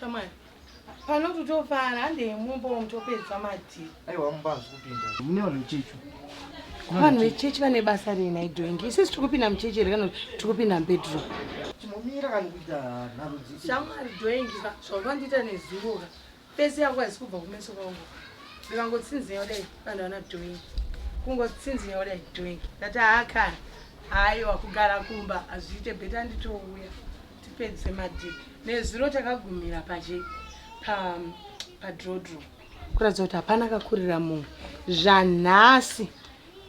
Shamwari. Pano tutofara hande mumba mutopedza madhi. Aiwa mumba hazikupinda. Mune vanhu vechechi. Vanhu vechechi vane basa rei nhai doingi. Isu tiri kupinda muchechi here kana tiri kupinda mubedroom? Tinomira kana kuita nharudzi. Shamwari doingi zvavandiita nezuro ka. Face yangu haisi kubva kumeso kwangu. Ndikangotsinzinya kudai vanhu vana doing. Kungotsinzinya kudai doing. Ndati haa kana. Haiwa kugara kumba hazviite better nditouya. Tipedze madii. Nezuro takagumira paje pa pa draw draw. Kuratidza kuti hapana akakurira munhu. Zvanhasi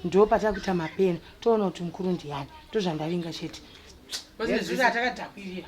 ndo patakuita mapeni toona kuti mukuru ndiyani. Ndozvandavinga chete. Nezuro atakadhakwirira.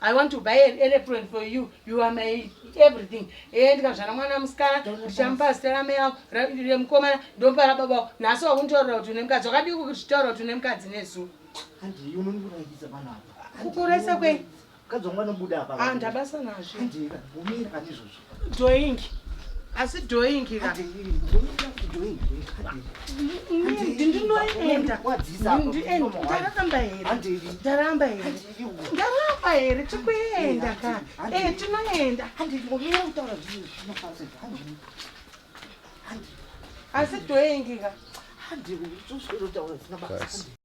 I want to buy an aeroplane for you. You are my everything. Eh, ndikazvana mwana musikana, ndichamupa zita ramai vangu, remukomana, ndomupa rababa vangu. Nhasi wakunditorera kuti une mukadzi. Wakadii kuzvitaura kuti une mukadzi nezuva? Handiyi unondikurayisa panapa. Kukurayisa kwei? Mukadzi wangu anobuda apa. Ah, ndabasa nazvo. Handiyi, umira pane izvozvo. Doingi. Asi doingi ka. Ndinoenda. Ndaramba here? Ndaramba here? Ndaramba here? Tikuenda ka. Eh, tinoenda. Asi doingi ka. Handi, uchizotaura zina basa.